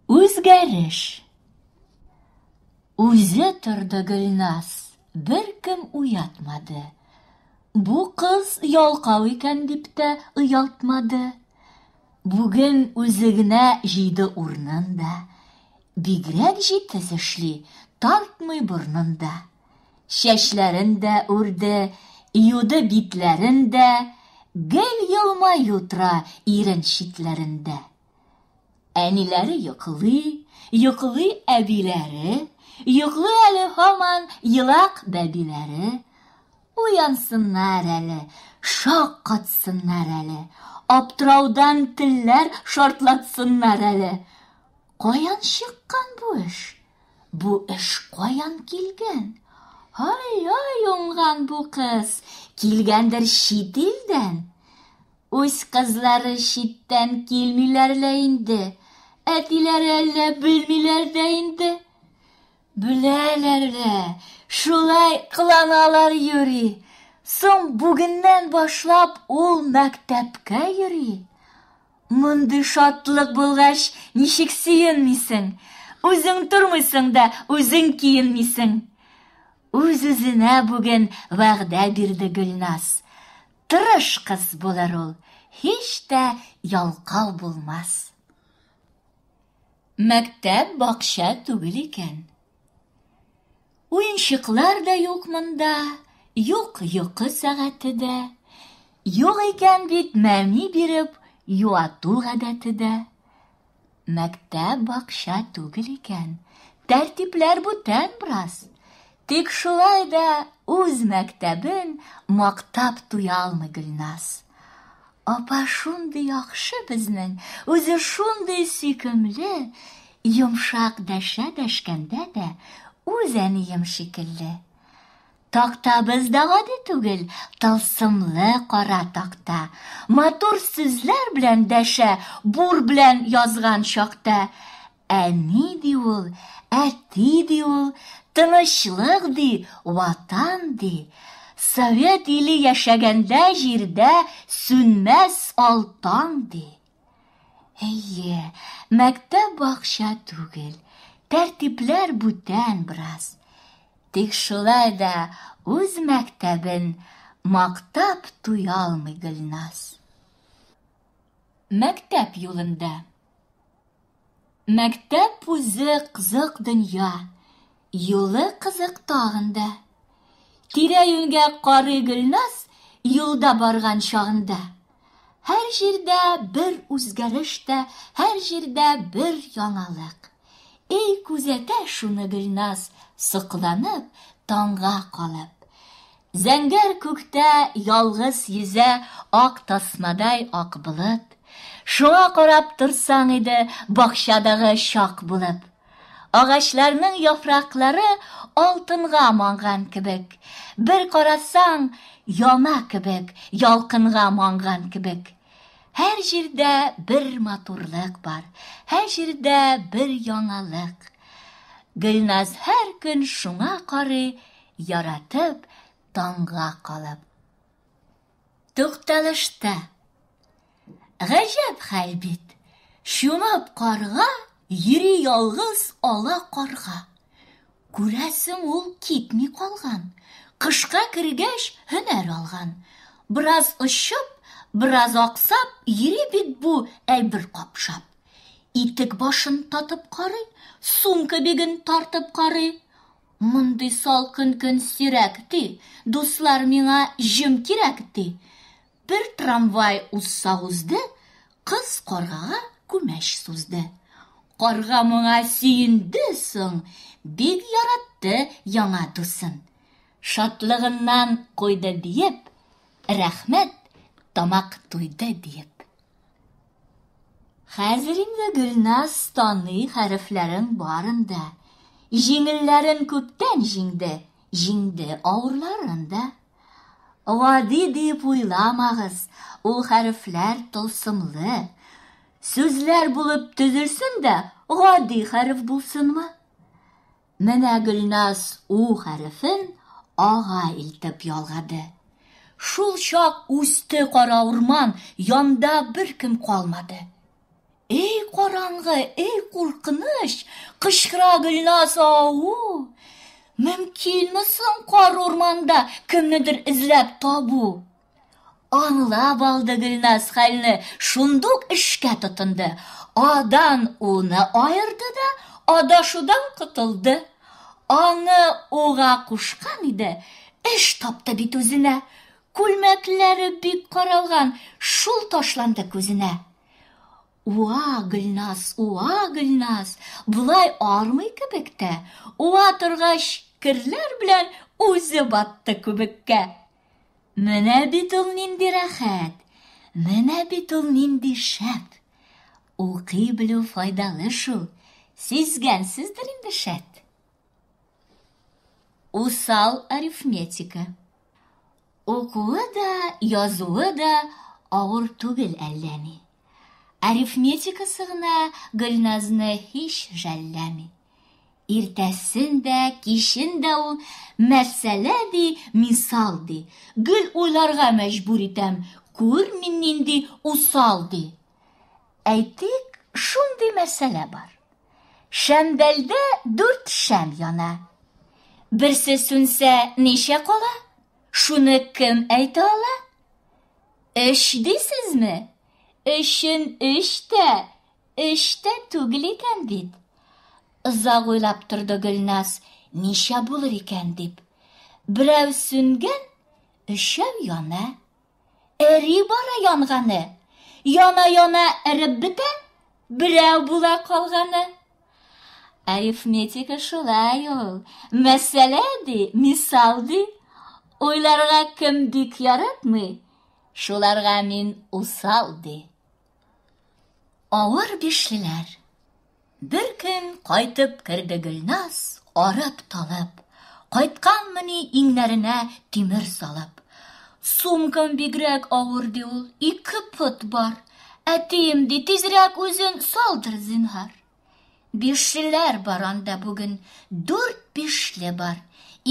Үзгәреш. Үзе торды Гөлназ, беркем уятмады. Бу кыз ялкау икән дип тә оялтмады. Бүген үзе генә җыйды урнын да. Бигрәк җитез эшли, тартмый борнын да. Чәчләрен дә үрде, юды битләрен дә, гел елмаю тора ирен читләрендә. Әниләре йоклый, йоклый әбиләре, йоклый әле һаман елак бәбиләре. Уянсыннар әле, шаккатсыннар әле, аптыраудан телләр шартлатсыннар әле. Каян чыккан бу эш? Бу эш каян килгән? Ай-ай, уңган бу кыз, килгәндер чит илдән. Үз кызлары читтән килмиләр лә инде. Әтиләре әллә белмиләр дә инде. Беләләр дә, шулай кыланалар йөри. Соң бүгеннән башлап ул мәктәпкә йөри. Мондый шатлык булгач, ничек сөенмисең? Үзең тормыйсың да, үзең киенмисең. Үз-үзенә бүген вәгъдә бирде Гөлназ. Тырыш кыз булыр ул, һич тә ялкау булмас. Мәктәп бакча түгел икән. Уенчыклар да юк монда, юк йокы сәгате дә. Юк икән бит мәми биреп юату гадәте дә. Мәктәп бакча түгел икән, тәртипләр бүтән брас. Тик шулай да үз мәктәбен мактап туя алмый Гөлназ. Апа шундый яхшы безнең, үзе шундый сөйкемле, йомшак дәшә дәшкәндә дә үз әнием шикелле. Тактабыз да гади түгел, тылсымлы кара такта. Матур сүзләр белән дәшә, бур белән язган чакта. Әни ди ул, әти ди ул, тынычлык ди, ватан ди. Совет иле яшәгәндә җирдә сүнмәс алтан ди. Әйе, мәктәп бакча түгел, тәртипләр бүтән бераз. Тик шулай да үз мәктәбен мактап туя алмый Гөлназ. Мәктәп юлында. Мәктәп үзе кызык дөнья, юлы кызык тагын да. Тирә-юньгә карый Гөлназ юлда барган чагында. Һәр җирдә бер үзгәреш тә, һәр җирдә бер яңалык. Эй күзәтә шуны Гөлназ, сокланып, таңга калып. Зәңгәр күктә ялгыз йөзә ак тасмадай ак болыт. Шуңа карап торсаң иде бакчадагы чак булып. Агачларның яфраклары алтынга манган кебек. Бер карасаң, яна кебек, ялкынга манган кебек. Һәр җирдә бер матурлык бар, һәр җирдә бер яңалык. Гөлназ һәр көн шуңа карый, яратып таңга калып. Тукталышта. Гаҗәп хәл бит. Чумып карга, йөри ялгыз ала карга. Күрәсең ул китми калган. Кышка кергәч һөнәр алган. Бераз очып, бераз аксап, йөри бит бу әйбер капшап. Итек башын татып карый, сумка биген тартып карый. Мондый салкын көн сирәк, ди. Дуслар, миңа җем кирәк, ди. Бер трамвай узса узды, кыз каргага күмәч сузды. Карга моңа сөенде соң, бик яратты яңа дусын. Шатлыгыннан куйды биеп, рәхмәт, тамак туйды, диеп. Хәзер инде Гөлназ таный хәрефләрен барын да. Җиңелләрен күптән җиңде, җиңде авырларын да. Гади дип уйламагыз, ул хәрефләр тылсымлы. Сүзләр булып төзелсен дә, гади хәреф булсынмы? Менә Гөлназ У хәрефен Ага илтеп ялгады. Шул чак үсте кара урман, янда беркем калмады. Эй караңгы, эй куркыныч, кычкыра Гөлназ ау. Мөмкинме соң кар урманда кемнедер эзләп табу? Аңлап алды Гөлназ хәлне, шундук эшкә тотынды. Адан уны аерды да, адашудан котылды. Аңы уга кушкан иде, эш тапты бит үзенә. Күлмәкләре бик каралган, шул ташланды күзенә. Уа, Гөлназ, уа, Гөлназ, болай армый кебек тә. Уа торгач, керләр белән үзе батты күбеккә. Менә бит ул нинди рәхәт, менә бит ул нинди шәп. Укый белү файдалы шул, сизгәнсездер инде шәт. Усал арифметика. Укуы да, язуы да авыр түгел әллә ни. Арифметикасы гына Гөлназны һич жәлләми. Иртәсен дә, кичен дә ул мәсьәлә ди, мисал ди. Гел уйларга мәҗбүр итәм, күр мин нинди усал ди. Әйтик, шундый мәсьәлә бар. Шәмдәлдә дүрт шәм яна. Берсе сүнсә, ничә кала? Шуны кем әйтә ала? Өч дисезме? Өчен өч тә, өч тә түгел икән бит. Озак уйлап торды Гөлназ, ничә булыр икән дип. Берәү сүнгән, өчәү яна. Эри бара янганы. Яна-яна эреп бетә, берәү була калганы. Арифметика шулай ул. Мәсьәлә ди, мисал ди. Уйларга кем бик яратмый, шуларга мин усал ди. Авыр бишлеләр. Бер көн кайтып керде Гөлназ, арып талып. Кайтканмыни иңнәренә тимер салып. Сумкам бигрәк авыр ди ул, ике пот бар. Әтием ди, тизрәк үзен салдыр, зинһар. Бишчеләр бар анда бүген, дүрт бишле бар.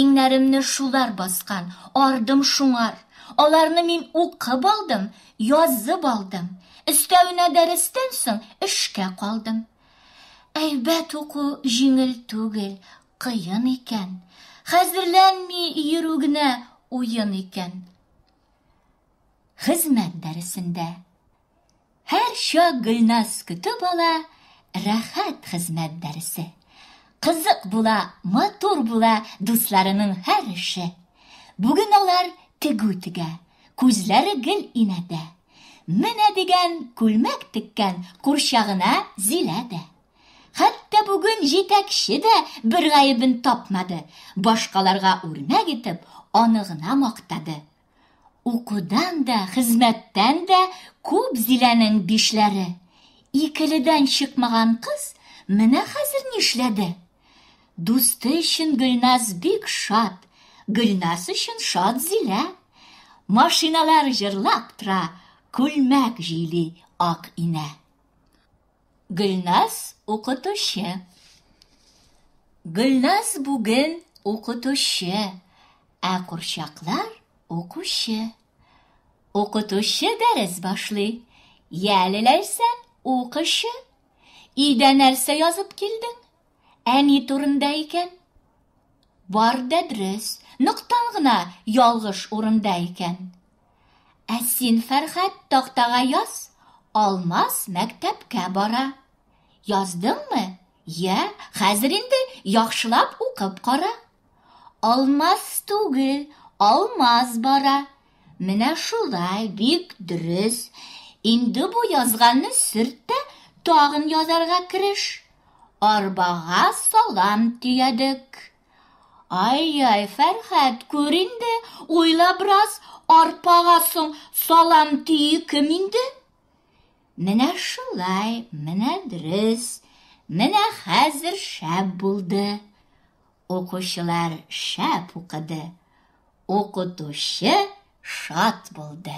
Иңнәремне шулар баскан, ардым шуңар. Аларны мин укып алдым, язып алдым. Өстәвенә дәрестән соң эшкә калдым. Әйбәт уку җиңел түгел, кыен икән. Хәзерләнми йөрү генә уен икән. Хезмәт дәресендә. Һәрчак Гөлназ көтеп ала рәхәт хезмәт дәресе. Кызык була, матур була дусларының һәр эше. Бүген алар тегү тегә, күзләре гел инәдә. Менә дигән күлмәк теккән курчагына Зилә дә. Хәтта бүген җитәкче дә бер гаебен тапмады, башкаларга үрнәк итеп, аны гына мактады. Укудан да, хезмәттән дә күп Зиләнең бишләре. Икеледән чыкмаган кыз менә хәзер нишләде? Дусты өчен Гөлназ бик шат, Гөлназ өчен шат Зилә. Машиналар җырлап тора, күлмәк җыйли ак инә. Гөлназ укытучы. Гөлназ бүген укытучы, ә курчаклар укучы. Укытучы дәрес башлый. Яле ләйсә укышы. Идә нәрсә язып килдең? Әни турында икән. Бар да дөрес, ноктан гына ялгыш урында икән. Ә син, Фәрхәт, тактага яз, Алмаз мәктәпкә бара. Яздыңмы? Йә, хәзер инде яхшылап укып кара. Алмаз түгел, Алмаз бара. Менә шулай, бик дөрес. Инде бу язганны сөрт тә, тагын язарга кереш. Арбага салам төядек. Ай-яй, Фәрхәт, күр инде, уйла бераз, арпага соң салам тию кем инде? Менә шулай, менә дөрес, менә хәзер шәп булды. Укучылар шәп укыды. Укытучы шат булды.